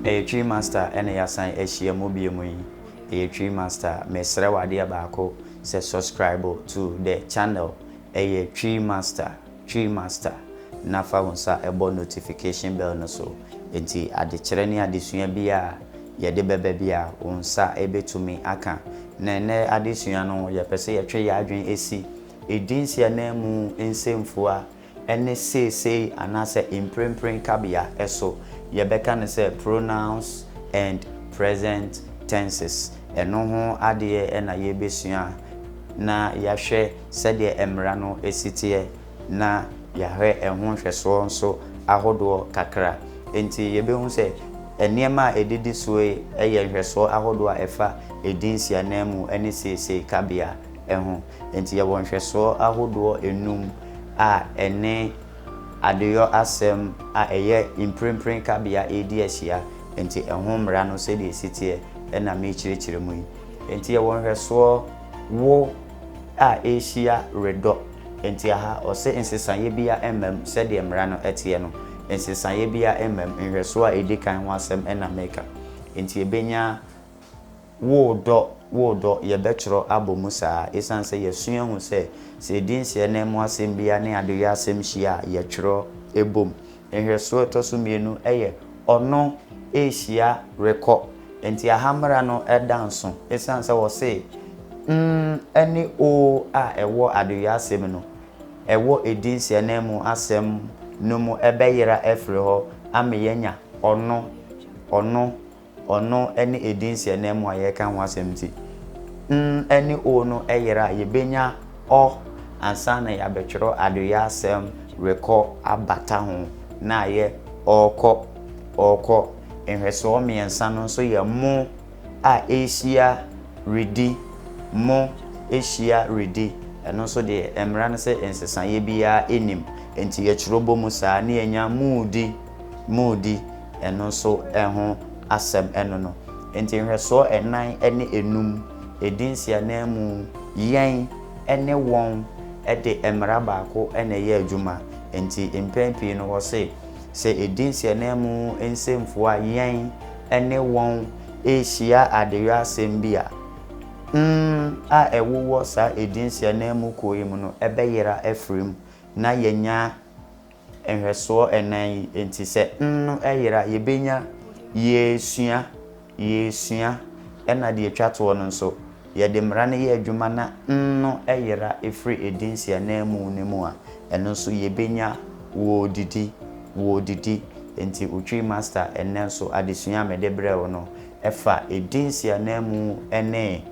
Ɛyɛ Twi Master na yɛasan ahyia mu bio mu yi. Ɛyɛ Twi Master. Mesrɛ wo adeɛ baako sɛ subscribe to the channel Ɛyɛ Twi Master, Twi Master, na fa wo nsa bɔ notification bell no so. Enti adekyerɛ ne adesua biara a yɛde bɛba biara wo nsa bɛtumi aka. Na ɛnnɛ adesua no yɛpɛ sɛ yɛtwe yɛn adwene si Edin si ananmu nsɛmfua ne seesei anaasɛ mprempren kabea so. Yɛbɛka no sɛ pronouns and present tenses. Ɛno ho adeɛ na yɛrebɛsua na yɛahwɛ sɛdeɛ mmara no si teɛ na yɛahwɛ ɛho nhwɛsoɔ nso ahodoɔ kakra. Enti yɛbɛhu sɛ nneɛma a ɛdidi soɔ yi yɛ nhwɛsoɔ ahodoɔ a ɛfa edin si ananmu ne seesei kabea. ho. Enti yɛwɔ nhwɛsoɔ ahodoɔ nnum a ɛne adeyɔ asɛm a ɛyɛ mprempren kabea redi ahyia. Enti ɛho mmara no sɛdeɛ ɛsi teɛ na merekyerɛkyerɛ mu yi. Enti yɛwɔ nhwɛsoɔ wo a ɛrehyia redɔ. Enti aha ɔse nsesaeɛ biara mma mu sɛdeɛ mmara no teɛ no. Nsesaeɛ biara mma mu. Nhwɛsoɔ a ɛdi kan ho asɛm na mereka. Enti yɛbɛnya. Wo dɔ, wo dɔ, yɛbɛtwerɛ abɔ mu saa, ɛsiane sɛ yɛasua ahu sɛ, sɛ yɛdi nsiananmu mu asɛm biara ne adeyɔ asɛm hyia a, yɛtwerɛ bom. Nhwɛsoɔ a ɛtɔ so mmienu yɛ ɔno rehyia rekɔ. Enti Ahammara no da nso, ɛsiane sɛ wɔse mm ne oo a ɛwɔ adeyɔ asɛm no, ɛwɔ ɛdi nsiananmu mu asɛm no mu bɛyera afiri hɔ ama yɛanya ɔno, ɔno, Ɔno ne edin nsiananmu a yɛreka ho asɛm nti, n ne o no yera a, yebenya ɔ ansa na yɛabɛtwerɛ adoyɛ asɛm rekɔ abata ho na ayɛ ɔɔkɔ, ɔɔkɔ. Nhwɛsoɔ mmiɛnsa no nso yɛ mo a ɛrehyia redi, mo ahyia redi. Ɛno nso deɛ, mmara no sɛ nsesaeɛ biara nnim. Enti yɛtwerɛ bɔ mu saa na yɛnya moodi. moredi ɛno nso ho asɛm ɛno no. Enti nhwɛsoɔ ɛnan ne enum ɛdi nsiananmu yɛn ne wɔn de mmara baako na ɛyɛ adwuma. Enti mpɛn pii no wɔse sɛ ɛdi nsiananmu nsɛmfua yɛn ne wɔn rehyia adeyɔ asɛm bi a, n a ɛwowɔ saa ɛdi nsiananmu kuo yi mu no bɛyera afiri mu na yɛanya Nhwɛsoɔ ɛnan yi nti sɛ nno yera yɛbɛnya Yɛresua, yɛresua, ɛna deɛ ɛtwa toɔ no nso, yɛde mmara no yɛ adwuma na nno yera firi ɛdinsi ananmu no mu a, ɛno nso yɛbɛnya Wɔredidi, wɔredidi, nti Otwi Master ɛnnɛ nso adesua a mede brɛ wo no ɛfa ɛdinsi ananmu ne.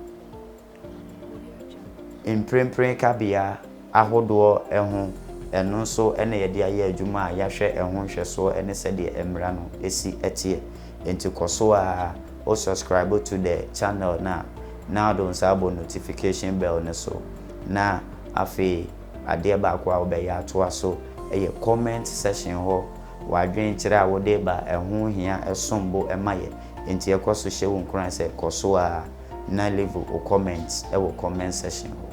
Mprempren kabea ahodoɔ ho ɛno nso na yɛde ayɛ adwuma a yɛahwɛ ɛho nhwɛsoɔ ne sɛdeɛ mmara no si teɛ. Nti kɔ so ara wo subscribe to the channel no a na wode wo nsa abɔ notification bell no so na afei adeɛ baako a wobɛyɛ atoa so yɛ comment section hɔ w'adwene kyerɛ a wode ba ɛho hia ɛsombo ma yɛ nti ɛkɔ so hyɛ wo nkuran sɛ kɔ so ara na leave wo comment wɔ comment section hɔ.